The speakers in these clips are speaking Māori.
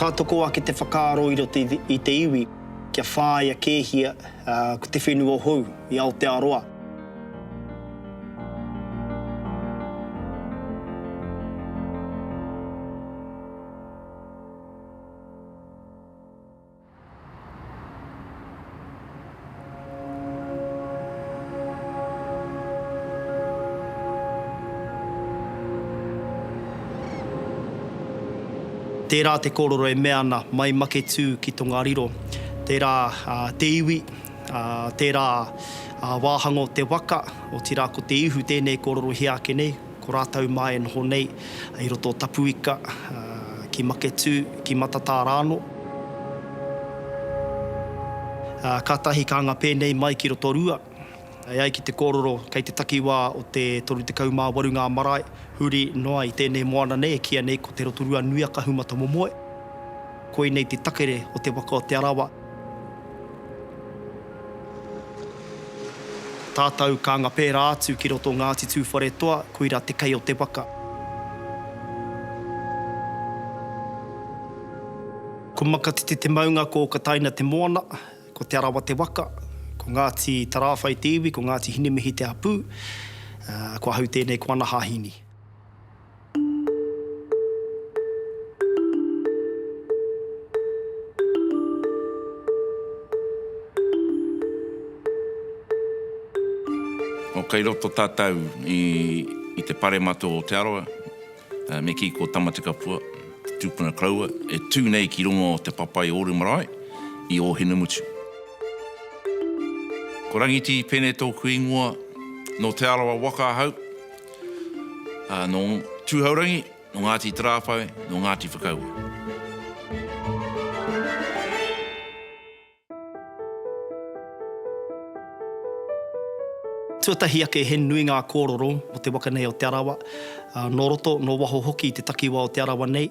Ka toko ake te whakaaro i roto i te iwi kia whāia kēhia ko te whenua hou i Aotearoa. Tērā te kōrero e mea ana, mai Maketū ki Tongariro, tērā te iwi, tērā wāhanga o te waka, otirā ko Te Ihu tēnei kōrerohia ake nei. Ko rātou mā e noho nei i roto o Tapuika, ki Maketū, ki Matatā rānō. Kātahi ka anga pēnei mai ki Rotorua, e ai ki te kōrero kei te takiwā o te 38 ngā marae huri noa i tēnei moana nei e kīia nei ko Te Rotorua nui a Kahumatamomoe. Koinei te takere o te waka o Te Arawa. Tātou ka anga pērā atu ki roto Ngāti Tūwharetoa, koirā te kei o te waka. Ko Makatete te maunga, ko Okataina te moana, ko Te Arawa te waka, ko Ngāti Tarāwhai te iwi, ko Ngāti Hinemihi te hapū, ko ahau tēnei ko ana hahini. Nō kei roto tātou i te paremata o Aotearoa, me kī ko Tamatekapua, te tūpuna koroua, e tū nei ki runga o te papai ōru marae i Ōhinemutu. Ko Rangiti Pene tōku ingoa, nō Te Arawa waka ahau. ā, nō Tūhourangi, nō Ngāti Tarāwhai, nō Ngāti Whakaue. Tuatahi ake he nui ngā kōroro mō te waka nei o Te Arawa, nō roto, nō waho hoki i te takiwā o Te Arawa nei.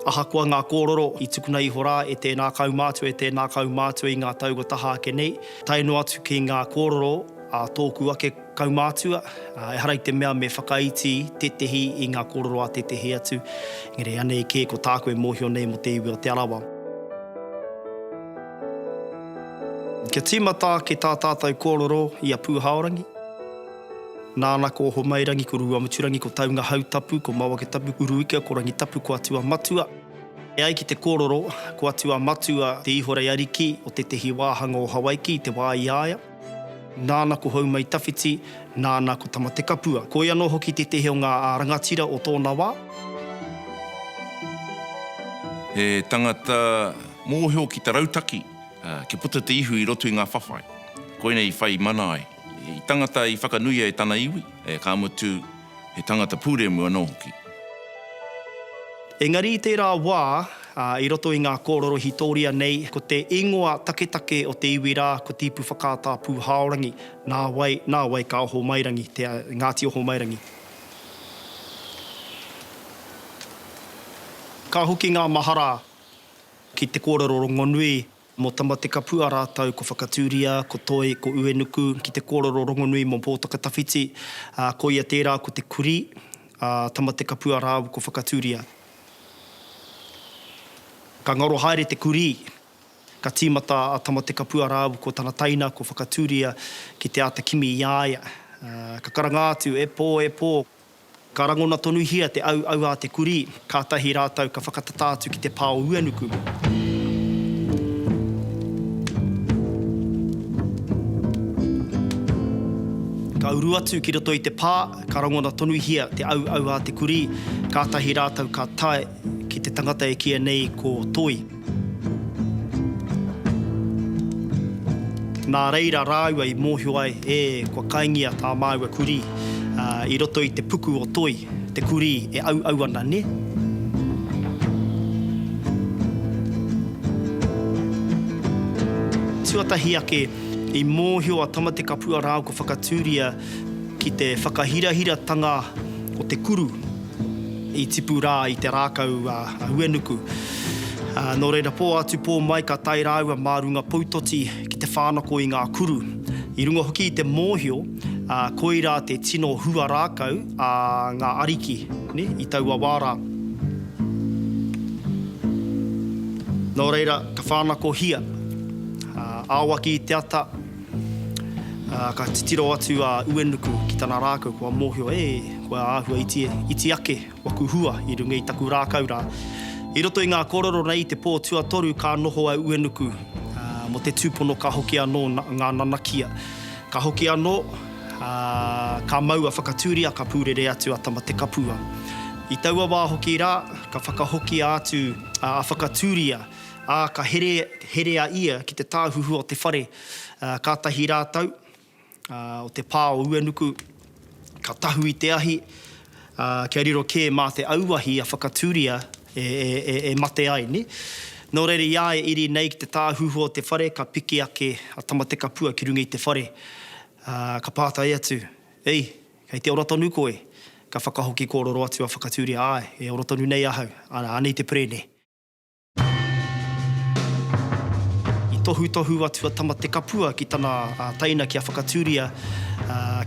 Ahakoa ngā kōrero i tukuna iho rā e tēnā kaumātua, e tēnā kaumātua i ngā tau kua taha ake nei, tae noa atu ki ngā kōrero a tōku ake kaumātua, ehara i te mea me whakaiti tētehi i ngā kōrero a tētehi atu, engari anei kē ko tāku e mōhio nei mō te iwi o Te Arawa. Kia tīmata ake tā tātou kōrero i a Pūhaorangi. Nāna ko Ohomairangi, ko Ruamuturangi, ko Taungahautapu, ko Mawaketapu, ko Uruikea, ko Rangitapu, ko Atu-a-matua. E ai ki te kōrero, ko Atu-a-matua te ihorei ariki o tētehi wāhanga o Hawaiki i te wā i a ia. Nāna ko Houmaitawhiti, nāna ko Tamatekapua. Ko ia anō hoki tētehi o ngā rangatira o tōna wā. He tangata mōhio ki te rautaki kia puta te ihu i roto i ngā whawhai. Koinei i whai mana ai. He tangata i whakanuia e tana iwi, ka mutu, he tangata pūremu anō hoki. Engari i tērā wā, i roto i ngā kōrero hītoria nei, ko te īngoa taketake o te iwi rā, ko Tīpu Whakaata Pūhaorangi, nā wai, nā wai ka Ohomairangi, te Ngāti Ohomairangi. Ka hoki ngā mahara ki te kōrero rongonui Mō Tamatekapua rātou ko Whakatūria, ko Toi, ko Uenuku ki te kōrero rongonui mō Pōtakatawhiti, ā, koia tērā ko te kurī a Tamatekapua rāua ko Whakatūria. Ka ngaro haere te kurī, ka tīmata a Tamatekapua rāua ko tana taina ko Whakatūria ki te āta kimi i a ia. Ka karanga atu, E pō, e pō! Ka rangona tonuhia te auau a te kurī, kātahi rātou ka whakatata atu ki te pā o Uenuku. Ka uru atu ki roto i te pā, ka rangona tonuhia te auau a te kurī, kātahi rātou ka tae ki te tangata e kīa nei ko Toi. Nā reira rāua i mōhio ai, ē, kua kaingia tā māua kurī, ā, i roto i te puku o Toi, te kurī e auau ana, nē? Tuatahi ake, i mōhio a Tamatekapua rāua ko Whakatūria ki te whakahirahiratanga o te kuru. I tipu rā i te rākau a Huenuku. Nō reira, pō atu pō mai ka tae rāua mā runga poutoti ki te whānako i ngā kuru. I runga hoki i te mōhio, koirā te tino hua rākau a ngā ariki i taua wā rā. Nō reira, ka whānakohia. Aoaki i te ata, Ā, ka titiro atu a Uenuku ki tana rākau kua mōhio, E, kua āhua iti, iti ake waku hua i runga i taku rākau rā. I roto i ngā kōrero nei i te pō tuatoru ka noho a Uenuku, ā, mō te tūpono ka hoki anō ngā nanakia. Ka hoki anō, ā, ka mau a Whakatūria ka pūrere atu a Tamatekapua. I taua wā hoki rā, ka whakahokia atu a Whakatūria Ā, ka here, here a ia ki te tāhuhu o te whare, ā, kātahi rātou, ā, o te pā o Uenuku, ka tahu i te ahi, ā, kia riro kē mā te auahi a Whakatūria e, e, e, e mate ai, nē. Nō reira, i a e iri nei ki te tāhuhu o te whare, ka piki ake a Tamatekapua ki runga i te whare, ā, ka pātai atu, Ei, kei te ora tonu koe? Ka whakahoki kōrero atu a Whakatūria, Āe, e ora tonu nei ahau, anei te pere, nē. I tohutohu atu a Tamatekapua ki tana teina kia whakatūria,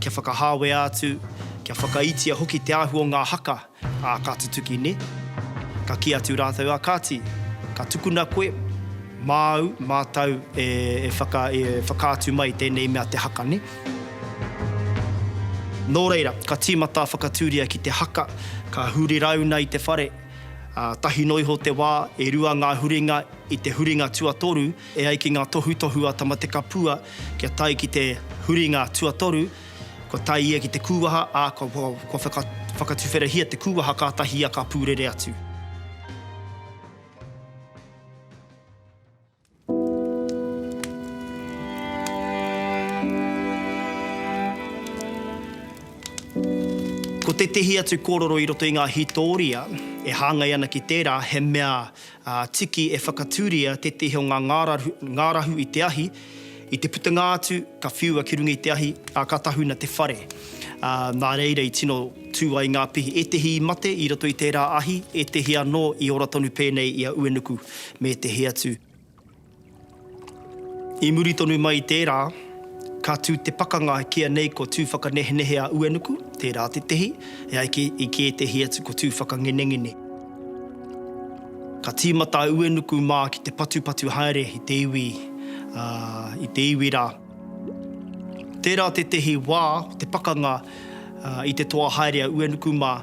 kia whakahāwea atu, kia whakaitia hoki te ahu o ngā haka a Ka Tutuki nē. Ka kī atu rātou, a kāti, ka tukuna koe, māu, mātou e whakaatu mai tēnei mea te haka nē. Nō reira, ka tīmata a Whakatūria ki te haka, ka huri rāuna i te whare, ā, tahi noa iho te wā, e rua ngā huringa i te huringa tuatoru, e ai ki ngā tohutohu a Tamatekapua kia tae ki te huringa tuatoru, kua tae ia ki te kūwaha, ā, kua, kua whaka, whakatuwherahia te kūwaha kātahi ia ka pūrere atu. Ko tētehi atu kōrero i roto i ngā hītōria e hāngai ana ki tērā he mea tiki e whakatūria tētehi o ngā ngārahu i te ahi I te putunga atu, ka whiua ki runga i te ahi, ā, ka tahuna te whare. Ā, nā reira i tino tū ai ngā pihi, ētehi i mate i roto i tērā ahi, ētehi anō i ora tonu pēnei i a Uenuku me ētehi atu. I muri tonu mai i tērā, ka tū te pakanga ki a nei ko Tūwhakanehenehe a Uenuku, tērā tētehi, e ai ki, i ki ētehi atu ko Tūwhakangenengene. Ka tīmata a Uenuku mā ki te patupatu haere i te iwi, ā, i te iwi rā. Tērā tētehi wā o te pakanga i te toa haere a Uenuku mā,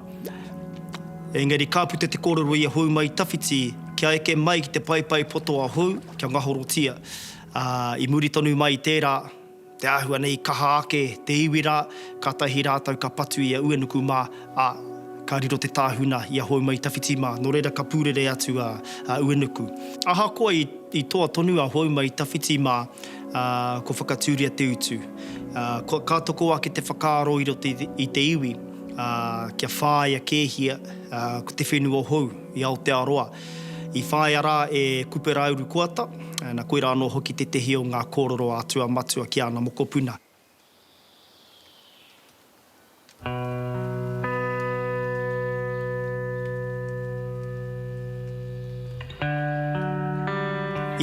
engari ka puta te kōrero i a Houmaitawhiti kia eke mai ki te paepae poto a Hou, kia ngahorotia. Ā, i muri tonu mai i tērā, Te āhua nei i kaha ake te iwi rā, kātahi rātou ka patu i a Uenuku mā, ā, ka riro te tāhuna i a Houma-i-tawhiti mā, nō reira ka pūrere atu a Uenuku. Ahakoa i toa tonu a Houma-i-tawhiti mā, ā, kua whakatūria te utu. Ā, ka toko ake te whakaaro i roto i te iwi, ā, kia whāia kēhia ko te whenua hou i Aotearoa. I whāia rā e Kupera Urukoata, na koirā anō hoki tētehi o ngā kōrero a Atua Matua ki āna mokopuna.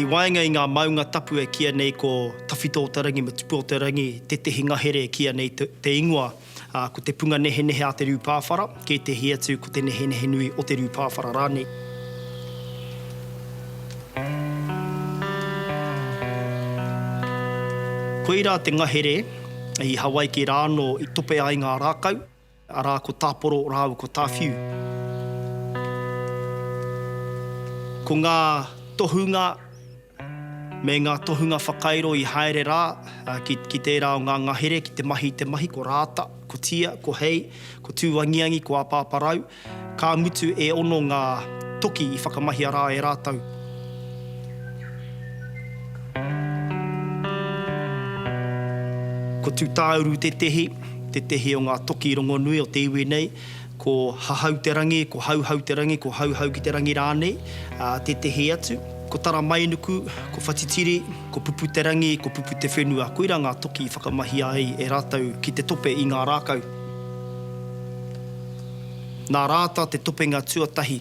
I waenga i ngā maunga tapu e kīa nei ko Tawhito-o-te-rangi me Tupu-o-te-rangi tētehi ngahere e kīa nei te ingoa, ā, ko te punga nehenehe a te rū pāwhara, kētehi atu ko te nehenehe nui o te rū pāwhara rānei. Koirā te ngahere i Hawaiki rā anō i tope ai ngā rākau, arā, ko Tāporo rāua ko Tāwhiu. Ko ngā tohunga. Me ngā tohunga whakairo i haere rā ki tērā o ngā ngahere ki te mahi i te mahi, ko Rāta, ko Tia, ko Hei, ko Tūangiangi, ko Āpāparau. Ka mutu e ono ngā toki i whakamahia rā e rātou. Ko Tūtāuru tētehi, tētehi o ngā toki rongonui o te iwi nei. Ko Hahau te Rangi, ko Hauhau te Rangi, ko Hauhau ki te Rangi rānei, ā, tētehi atu. Ko Taramainuku, ko Whatitiri, ko Pupu te Rangi, ko Pupu te Whenua, koirā ngā toki i whakamahia ai e rātou ki te tope i ngā rākau. Nā Rāta te topenga tuatahi.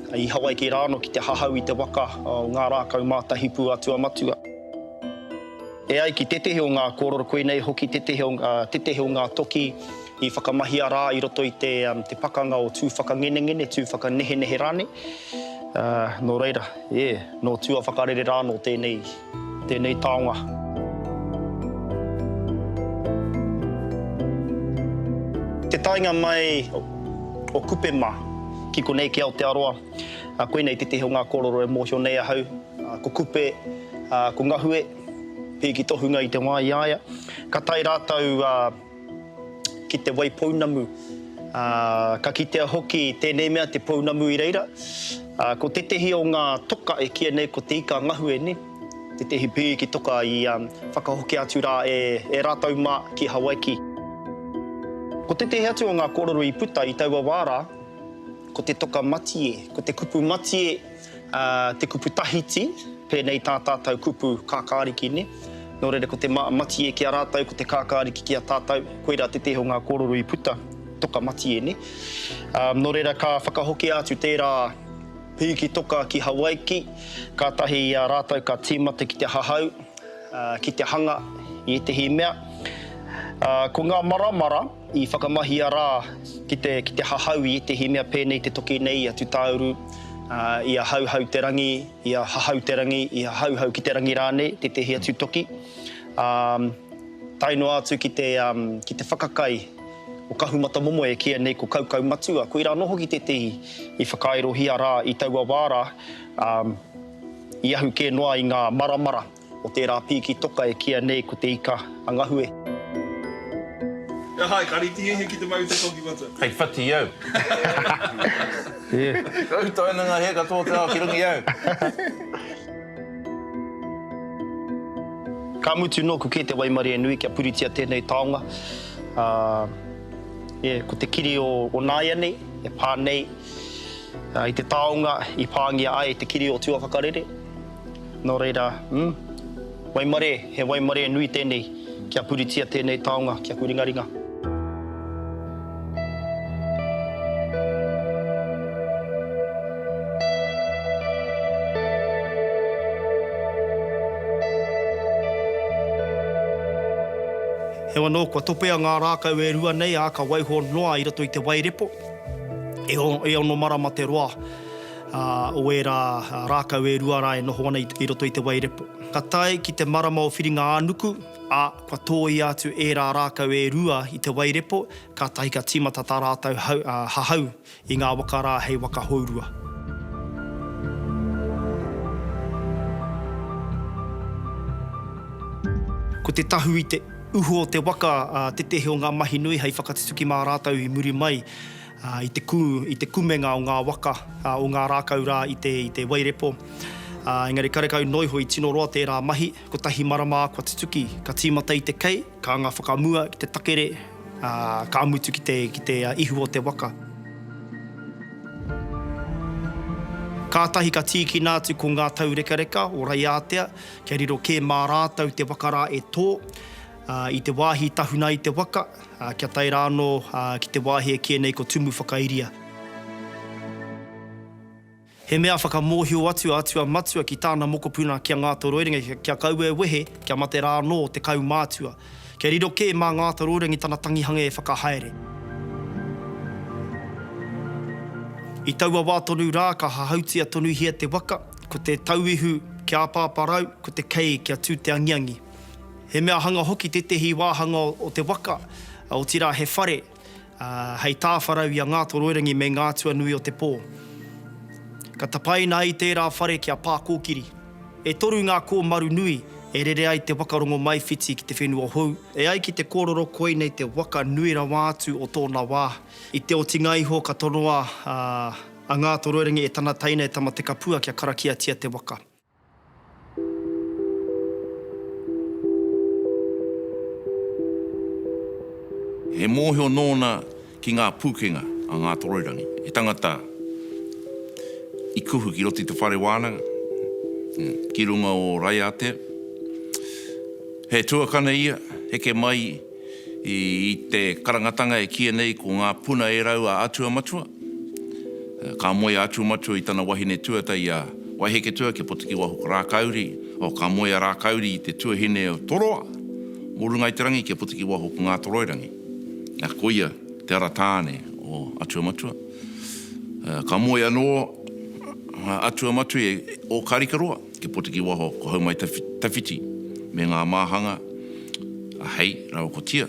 I Hawaiki rā anō ki te hahau i te waka o ngā rākau mātahi pū a Tuamatua. E ai ki tētehi o ngā kōrero, koinei hoki tētehi o ngā toki i whakamahia rā i roto i te pakanga o Tū Whakangenengene, Tū Whakanehenehe rānei. Nō reira, e, nō Tūawhakarere rā anō tēnei. Tēnei taonga. Te taenga mai o Kupe mā. Ki konei ki Aotearoa, koinei tētehi o ngā kōrero e mōhio nei ahau. Ko Kupe, ko Ngahue, pēki tohunga i te wā i a ia. Ka tae rātou ki te wai pounamu. Ā, ka kitea hoki tēnei mea te pounamu i reira, ā, ko tētehi o ngā toka e kīia nei ko te ika ngahue, nē, tētehi pīki toka i whakahokia atu rā e, e rātou mā ki Hawaiki. Ko tētehi atu o ngā kōrero i puta i taua wā rā, ko te toka matie, ko te kupu matie, Te kupu tahiti, pēnei tā tātou kupu kākāriki, nē? Nō reira, ko te matie ki a rātou, ko te kākāriki ki a tātou, koirā te tēhi o ngā kōrero i puta, toka matie, nē? Nō reira, ka whakahokia atu tērā pīki toka ki Hawaiki, kātahi i a rātou ka tīmata ki te hahau, ki te hanga i ētehi mea. Ko ngā maramara. I whakamahia rā ki te ki te hahau i ētehi mea pēnei te toki nei i a Tutauru, i a Hauhau-te-rangi, i a Hahau-te-rangi, i a Hauhau-ki-te-rangi rānei, tētehi atu toki. Ā, tae noa atu ki te, ki te whakakai o Kahumatamomoe e kīia nei ko Kaukaumatua, koirā anō hoki tētehi i whakaaerohia rā i taua wā rā, i ahu kē noa i ngā maramara. O tērā pīki toka e kīa nei ko Te Ika a Ngahue. He aha e kariti e ki te mau te toki matua? Hei whati au. Ka utaina nga he katoa te ao ki runga i au. Ka mutu noku ke te waimarie nui kia puritia tenei taonga. Ko te kiri o naianei e pa nei i te taonga i pangia ai te kiri o Tuawhakarere. Nō reira, mm, waimarē, he waimarē nui tēnei kia puritia tēnei taonga ki aku ringaringa. Heoi anō, kua topea ngā rākau e rua nei, ā, ka waiho noa i roto i te wairepo. E ono marama te roa. Ā, o ērā rākau e rua rā e noho ana i roto i te wairepo. Ka tae ki te marama o Whiringa-ā-nuku, ā, kua tōia atu ērā rākau e rua i te wairepo, kātahi ka tīmata tā rātou hahau i ngā waka rā hei waka hourua. Ko te tahu i te uho o te waka tetehe o ngā mahi nui hei whakatutuki mā rātou i muri mai. ā, i te kū, i te kumenga o ngā waka, ā, o ngā rākau rā i te, i te wairepo, ā, engari karekau noa iho i tino roa tērā mahi, kotahi marama kua tutuki, ka tīmata i te kei, ka anga whakamua ki te takere, ā, ka mutu ki te, ki te ihu o te waka. Kātahi ka tīkina atu ko ngā taurekareka o Raiātea kia riro kē mā rātou te waka rā e tō, ā, i te wāhi i tahuna ai te waka, Kia tae rā anō ki te wāhi e kīia nei ko Tumu Whakairia. He mea whakamōhio atu a Atua Matua ki tāna mokopuna ki a Ngātoroirangi kia kaua e wehe kia mate rā anō te kaumātua. Kia riro kē mā Ngātoroirangi tana tangihanga e whakahaere. I taua wā tonu rā ka hahautia tonuhia te waka, ko te tauihu kia apaaparau, ko te kei kia tū te angiangi. He mea hanga hoki tētehi wāhanga o te waka, otirā he whare, hei tāwharau i a Ngātoroirangi me ngā atua nui o te pō. Ka tapaina ai tērā whare ki a Pākōkiri. E toru ngā kōmaru nui e rere ai te waka rongomaiwhiti ki te whenua hou. E ai ki te kōrero koinei te waka nui rawa atu o tōna wā. I te otinga iho ka tonoa a Ngātoroirangi e tana teina e Tamatekapua kia karakiatia te waka. He mōhio nōna ki ngā pūkenga a Ngātoroirangi, he tangata i kuhu ki roto i te whare wānanga, ki runga o Raiatea. He tuakana ia, heke mai, I te karangatanga e kīia nei ko Ngā Puna e Rau a Atua Matua, ka moe a Atua Matua i tana wahine tuata i a Waiheketua kia Potekiwaho ko Rākauri, oh, ka moe a Rākauri i te tuahine o Toroa mō runga i te rangi kia Potekiwaho ko Ngātoroirangi. Ā, koia te ara tāne o Atua Matua. Ka moe anō a Atua Matua i Ōkarikaroa. Te Potekiwaho, ko Haumai Tawhiti me ngā māhanga a Hei rāua ko Tia,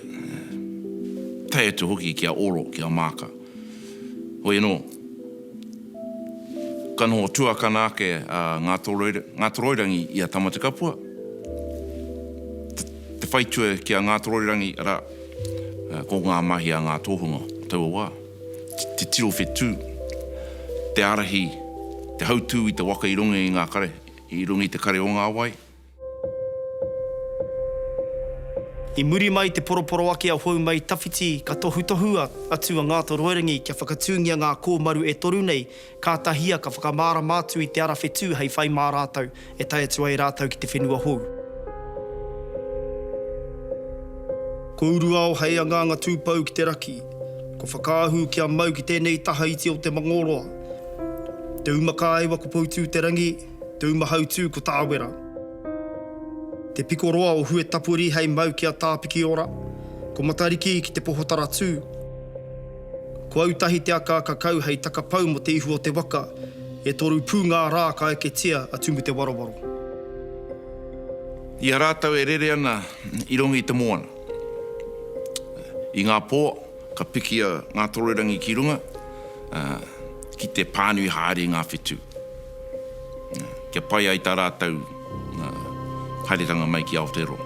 tae atu hoki ki a Oro, ki a Maaka. Hoi anō, ka noho tuakana ake a Ngātoroirangi i a Tamatekapua, te whaitua ki a Ngātoroirangi, arā, ko ngā mahi a ngā tōhunga o taua wā. te tiro whetū, te ārahi, te hautū i te waka i runga i ngā kare, i runga i te kare o ngā wai. I muri mai i te poroporoaki a Houmei Tawhiti ka tohutohua atu a Ngātoroirangi kia whakatūngia ngā kōmaru e toru nei Ka tahia, ka whakamārama atu i te ara whetū hei whai mā rātou e tae atu ai rātou ki te whenua hou. Ko Uruao hei anganga tūpou ki te raki, ko Whakaahū kia mau ki tēnei taha iti o Te Mangōroa. Te Umakāewa ko Poutū-te-rangi, Te Umahautū ko Tāwera. Te Pikoroa o Huetapuri hei mau ki a Tāpikiora, ko Matariki ki Te Pohotaratū. Ko Autahi te aka kakau hei takapau mo te ihu o te waka, e toru pu nga ra ka eketia a Tumu te Warawaro. I a ratou e rere ana i rongo i te moana. I nga po ka pikia nga toroirangi ki runga, ki te panui haere i nga whitu, kia pai ai ta ratou haeretanga mai ki Aotearoa.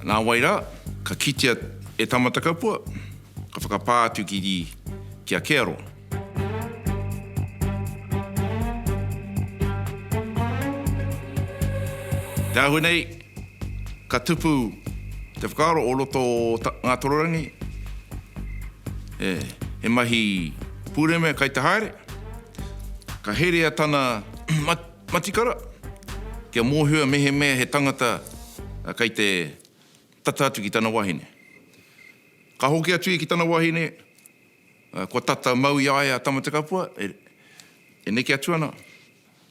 Na wai ra, Ka kitea e Tamatakapua, ka whakapā atu ki ri, ki a Kearoa. Te ahu nei, ka tupu te whakaaro o roto o Ngatororangi, he mahi pureme kai te haere, ka herea tana matikara kia mohio mehemea he tangata kai te tata atu ki tana wahine. Ka hoki atu ia ki tana wahine, ā, kua tata mau i a ia a Tamatekapua, e, e neke atu ana,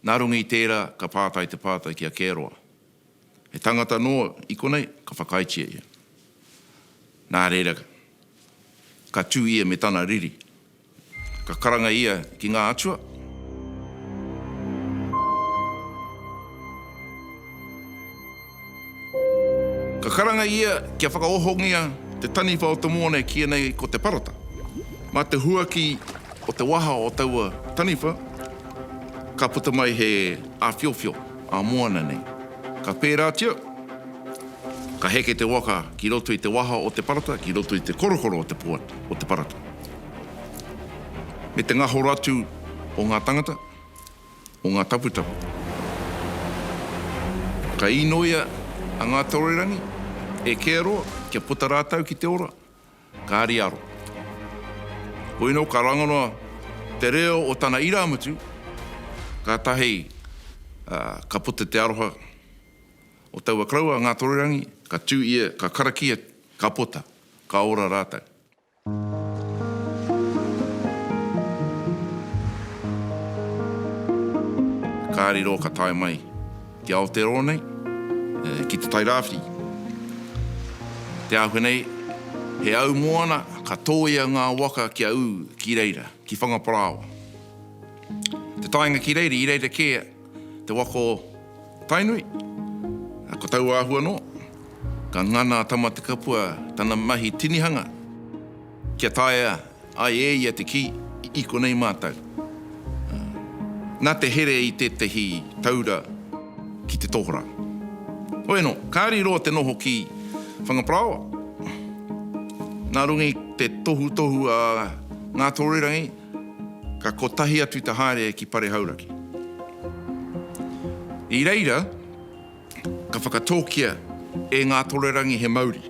nā runga i tērā ka pātai te pātai ki a Kearoa, He tangata anō i konei ka whakaaetia ia? Nā reira, ka tū ia me tana riri. Ka karanga ia ki ngā atua. Ka karanga ia kia whakaohongia te taniwha o te mōne ki ēnei ko te parata. Mā te huaki o te waha o taua taniwha ka puta mai he āwhiowhio, ā-moana nei. Ka pērātia, ka heke te waka ki roto i te waha o te parata, ki roto i te korokoro o te parata. me te ngahoro atu o ngā tangata, o ngā taputapu. Ka īnoia a Ngātoroirangi e Kearoa kia puta rātou ki te ora, kāri aro. Koinō ka rangona te reo o tana irāmutu, kātahi ka puta te aroha o taua karaua a Ngātoroirangi, ka tū ia, ka karakia, ka puta, ka ora rātou. Ka riro ka tae mai ki Aotearoa nei, ki Te Tai Rāwhiti. Te Āhua nei, he au moana ka tōia ngā waka kia ū ki reira, ki Whangaparāoa. Te taenga ki reira, i reira kē Te waka o Tainui, ko taua āhua anō, ka ngana a Tamatekapua tana mahi tinihanga kia taea ai e ia te kī i konei mātou. Nā te here i tētahi taura ki te tohorā. Hoi anō, kāri roa te noho ki Whangaparāoa. Nā runga i te tohutohu a Ngātorerangi, Ka kotahi atu te haere ki Pare Hauraki. I reira, ka whakatōkia e Ngātorerangi he mauri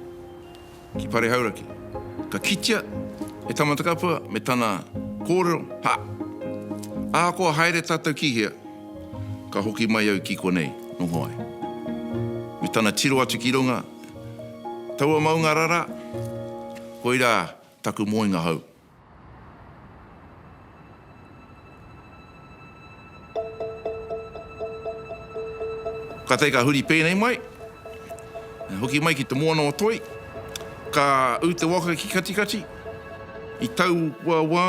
ki Pare Hauraki. Ka kitea e Tamatakapua me tana kōrero, Ha! Ahakoa haere tātou ki hea, ka hoki mai au ki konei, noho ai. Me tana tiro atu ki runga, Taua maunga rara, koirā taku moenga hou. Katai ka huri pēnei mai, hoki mai ki te moana o Toi, ka ū te waka ki Katikati, i taua wā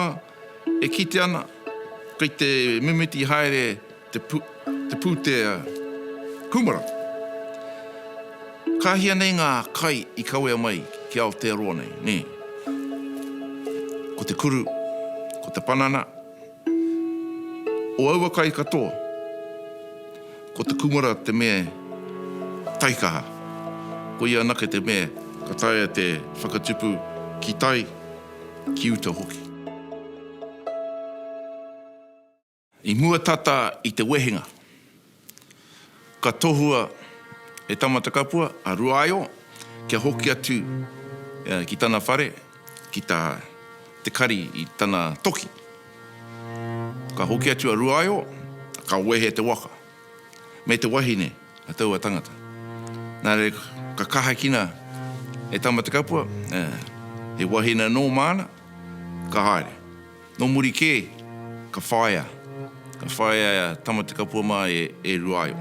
e kite ana kei te mimiti haere te pūtea kūmara. Ka hia nei ngā kai i kawea mai ki Aotearoa nei, nē? Ko te kuru, ko te panana, o aua kai katoa, ko te kūmara te mea taikaha. Koia anake te mea ka taea te whakatupu ki tai, ki uta hoki. I mua tata i te wehenga, ka tohua e Tamatakapua a Ruaio kia hoki atu ki tana whare ki tā Te Kari i tana toki. Ka hoki atu a Ruaio, ka wehe te waka me te wahine a taua tangata. Nā reira ka kahakina e Tamatakapua, he wahine anō māna, ka haere. Nō muri kē, ka whāia, ka whāia e Tamatekapua mā e Ruaio.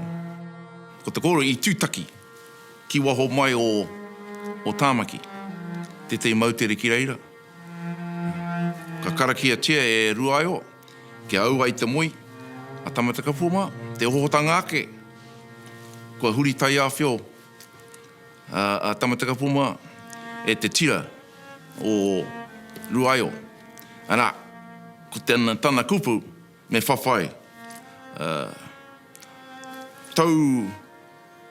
Ko te kōrero i tūtaki ki waho mai o Tāmaki, tētahi moutere ki reira. Ka karakiatia e Ruaio kia au ai te moe a Tamatekapua mā, te ohotanga ake kua huri taiāwhio. a Tamatekapoma e te tira o Ruaio, arā, ko tana, tana kupu me whawhai, ā, tau,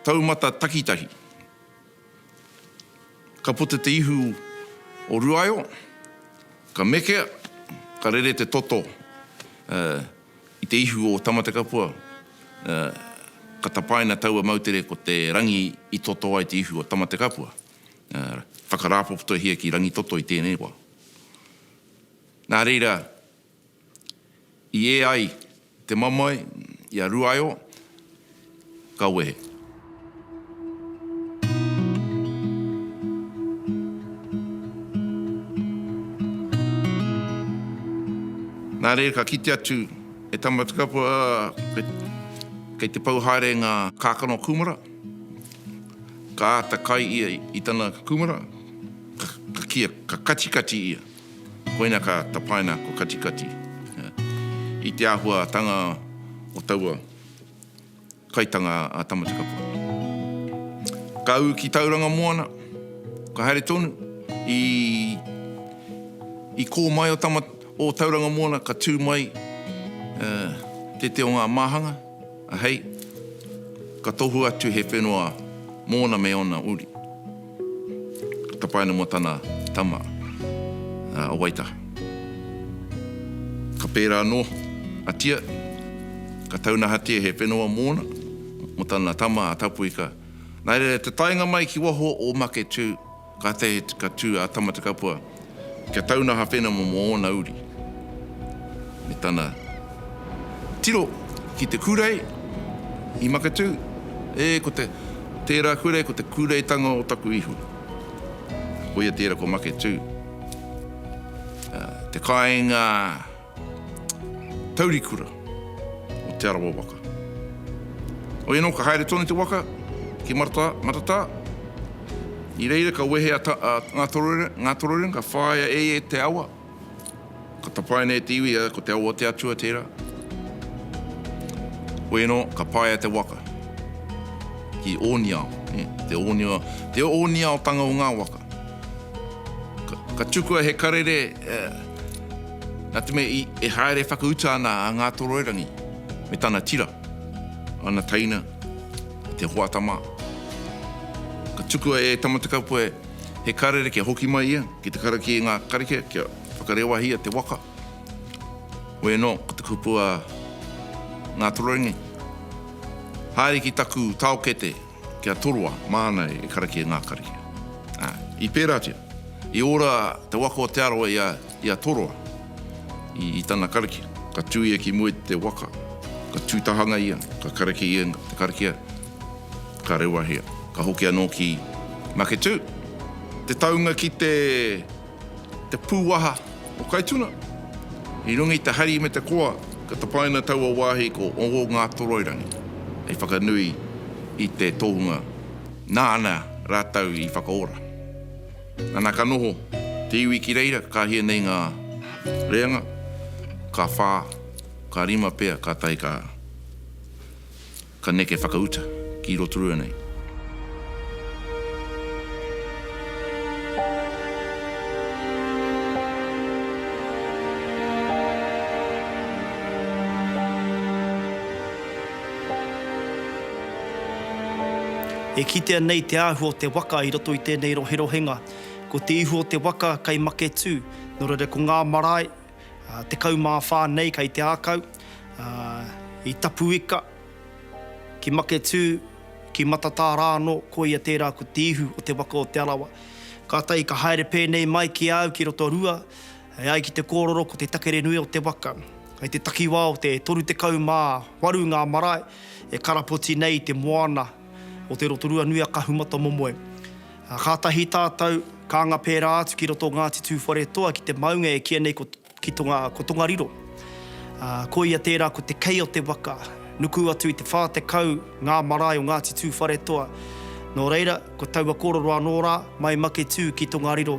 taumata takitahi. Ka puta te ihu o Ruaio, ka mekea, ka rere te toto, ā, I te ihu o Tamatekapua, ka tapaina taua moutere ko te rangi i toto ai te ihu o Tamatekapua. Whakarāpopotohia ki Rangitoto i tēnei wā. Nā reira, i ē ai te mamae i a Ruaeo, Ka wehe. Nā reira ka kite atu e Tamatekapua, ā, kei te pau haere ngā kākano kūmara, ka āta kai ia i tana kūmara, ka kīa, ka katikati ia. Koina ka tapaina ko katikati i te āhuatanga o taua. kaitanga a Tamatekapua. Ka ū ki Tauranga Moana, ka haere tonu, i, i kō mai o, Tama, o Tauranga Moana, ka tū mai uh, te te o ngā māhanga, a hei, ka tohu atu he whenua mōna me ōna uri. Ka tapae ana mō tana tama a Waitaha. Ka pērā anō a Tia, ka taunahatia he whenua mōna, mō tana tama a Tapuika. Nā reira, te taenga mai ki waho o Maketū, kātahi ka tū a Tamatekapua. kia taunaha whenamo mō ōna uri, me tana tiro ki te kūrei i Maketū, ē, ko te, tērā kūrei ko te kūreitanga o taku ihu. Koia tērā ko Maketū, te kāinga, Taurikura o Te Arawa waka. Hoi anō ka haere tonu te waka ki Maratā, Maratā. I reira ka wehe a Ngātoroirangi, ka whāia e ia te awa, ka tapaina e te iwi ia ko Te Awa o te Atua tērā. Hoi anō ka paea te waka ki Ōniao, te Ōniao, te Ōniaotanga o ngā waka. Ka tukua he karere, Nā te mea e haere whakauta ana a Ngātoroirangi me tana tira, ana teina, te hoata mā. Ka tukua e Tamatekapua he karere kia hoki mai ia ki te karakia i ngā karakia kia whakarewahia te waka. Hoi anō, ko te kupu a Ngātoroirangi, Haere ki taku taokete! Kia toroa, māna e karakia e ngā karakia. Ā, i pērātia, i ora te waka o Te Arawa i a, i a Toroa, i, i tana karakia. Ka tū ia ki mua i te waka, ka tū tahanga ia, ka karakia ia te karakia, ka rewahia, ka hoki anō ki Maketū. Te taunga ki te Te pūwaha o Kaituna, i runga i te hari me te koa, ka tapaina taua wāhi ko Ongongātoroirangi hei whakanui i te tohunga nāna rātou i whakaora. Nana ka noho te iwi ki reira, ka hia nei ngā reanga, ka whā, ka rima pea, kātahi ka. Ka neke whakauta ki Rotorua nei. E kitea nei te āhua o te waka i roto i tēnei roherohenga. Ko te ihu o te waka kei Maketū, nō reira ko ngā marae, Tekau mā whā nei kei te ākau, i Tapuika, ki Maketū, ki Matatā rānō, koia tērā ko te ihu o te waka o Te Arawa. Kātahi ka haere pēnei mai ki a au ki Rotorua, e ai ki te kōrero ko te takere nui o te waka. Kei te takiwā o te 38 ngā marae e karapoti nei i te moana o te Rotorua nui a Kahumatamomoe. Ā, kātahi tātou ka anga pērā atu ki roto o Ngāti Tūwharetoa ki te maunga e kīia nei ko, ki Tonga, ko Tongariro. Ā, ko ia tērā ko te kei o te waka, nuku atu i te whā tekau ngā marae o Ngāti Tūwharetoa. Nō reira, ko taua kōrero anō rā, mai Maketū ki Tongariro.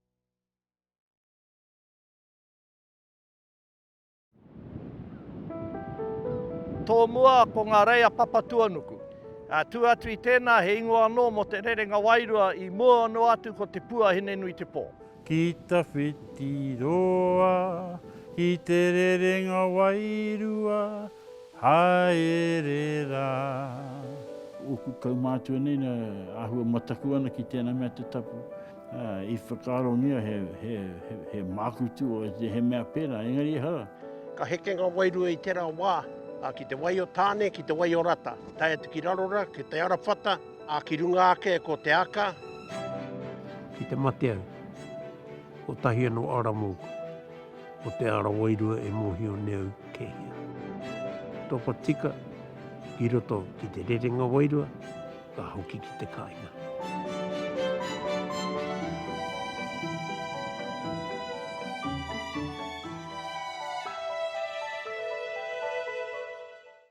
Tō mua ko ngā reia Papatuanuku. Tū atu i tēnā he ingoa anō mō Te Rerenga Wairua i mua noa atu ko Te Pua Hinenuitepō. Ki ta whiti roa ki te rerenga wairua haere ra. Oku kaumātua nei na ahua mataku ana ki tena mea te tapu. I whakaarongia he māku tū, he mea pērā, engari ehara. Ka heke ngā wairua i tērā wā, ki te wai o Tāne, ki te wai o Rata, tae atu ki Rarora, ki Te Arawhata, ā, ki runga ake ko Te Aka. Ki te mate au, kotahi anō ara mōku, ko te ara wairua e mōhio nei au kei hea. Topa tika ki roto ki te rerenga wairua. Ka hoki ki te kainga.